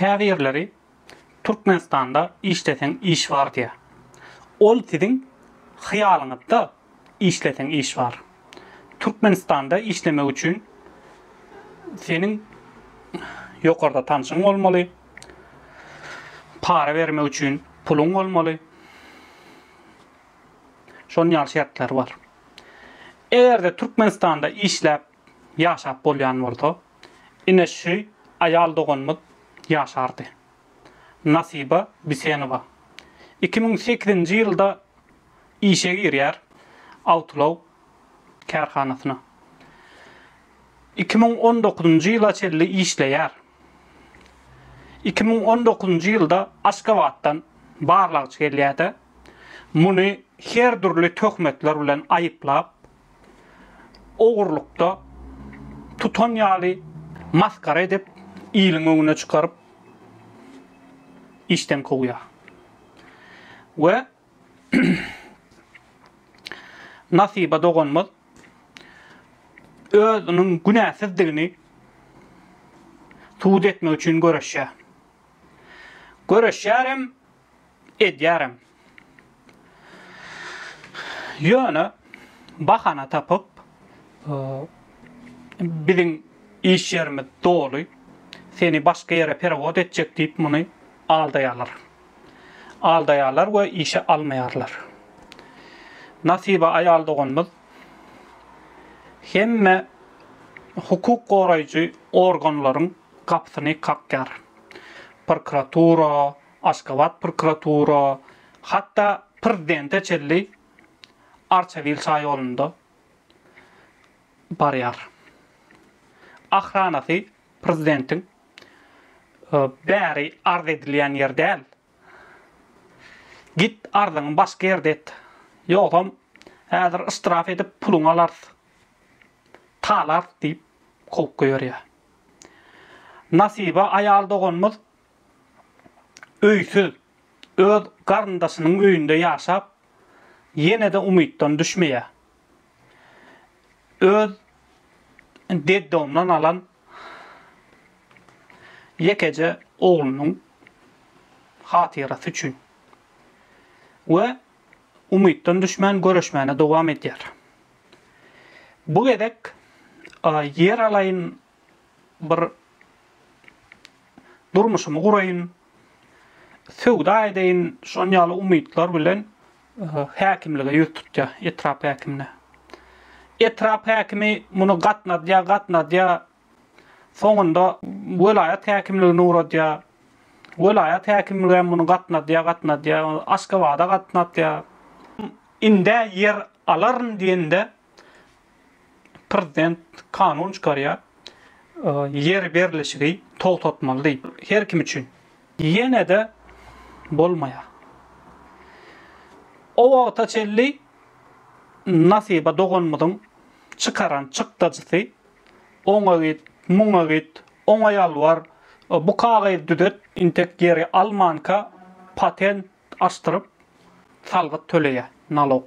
Käbirleri Türkmenistanda işleseň iş bar diýýär. Ol siziň hyýalyňyzda işleseň iş bar. Türkmenistanda işlemek üçin seniň ýokarda tanşyň bolmaly, para bermek üçin puluň bolmaly. Şonuň ýaly şertler bar. Eger-de Türkmenistanda işläp ýaşap bolýan bolsa, ine şü aýal doganymyz ýaşardy. Nasiba Bisenowa iki müň sekizinji ýylda işe girýär awtoulag kärhanasyna. Iki müň on dokuzynjy ýyla çenli işleýär. Iki müň on dokuzynjy ýylda Aşgabatdan barlagçy gelýärde, muny her dürli töhmetler bilen aýyplap, Ogurlykda tutan ýaly masgara edip, iliň öňüne çykaryp, işden kowýar. We Nasiba doganymyz özüniň günäsizdigini subut etmek üçin göreşýär. Göreşýärem, edýärem. Ýöne bahana tapyp, biziň iş ýerimiz doly, seni başga ýere perewod etjek diýip muny aldaýarlar. Aldaýarlar we işe almaýarlar. Nasiba aýal doganymyz hemme hukuk goraýjy organlaryň gapysyny kakýar. Prokuratura, Aşgabat prokuratura, hatda prezidente çenli Arçabil şaýolunda barýar. Ahranasy prezidentiň bäri arz edilýän ýer däl. Git arzyňy başga ýerde et. Ýogsam häzir yştraf edip puluňy alarys. Talarys diýip kowup goýberýär. Nasibe aýal doganymyz öýsüz, öz garyndaşynyň öýünde ýaşap, ýene-de umytdan düşmeýär. Öz deddomdan alan ýekeje oglunyň hatyrasy üçin we umytdan düşmän göreşmäne dowam edýär. Bu gezek ýer alaýyn bir durmuşymy guraýyn, söwda edeýin, şon ýaly umytlar bilen häkimlige ýüz tutýar, etrap häkimine. Etrap häkimi muny gatnadýar, gatnadýar, soňunda welaýat häkimligine ugradýar. Welaýat häkimligi hem muny gatnadýar, gatnadýar, Aşgabada gatnadýar. Indä ýer alaryn diýende, Prezident kanun çykarýar, ýer berlişigi togtatmaly diýip, her kim üçin. Ýene-de bolmaýar. O wagta çenli Nasiba doganymyzyň çykaran çykdajysy, oňa git, muňa git, oňa ýalbar, bu kagyzy düzet, intek ýeri almanka patent açdyryp, salgyt töleýär, nalog.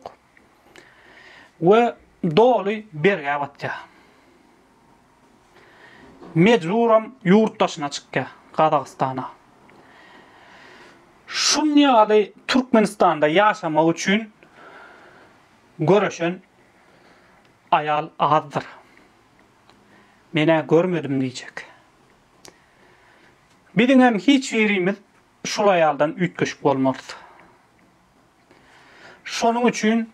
we doly bergä batýar. Mejburam ýurt daşyna çykýar, Gazagystana. Şun ýaly Türkmenistanda ýaşamak üçin göreşen aýal azdyr. Men-ä görmedim diýjek. Biziňem hiç birimiz Şul aýaldan üýtgeşik bolmalys. Şonuň üçin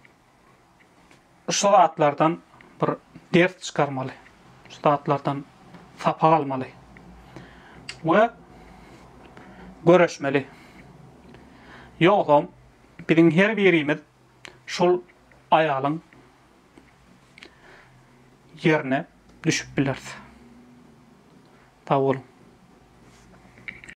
şu zatlardan bir ders çykarmaly. Şu zatlardan sapak almaly. We göreşmeli. Ýogsam biziň her birimiz şul aýalyň ýerine düşüp bileris. Sag boluň.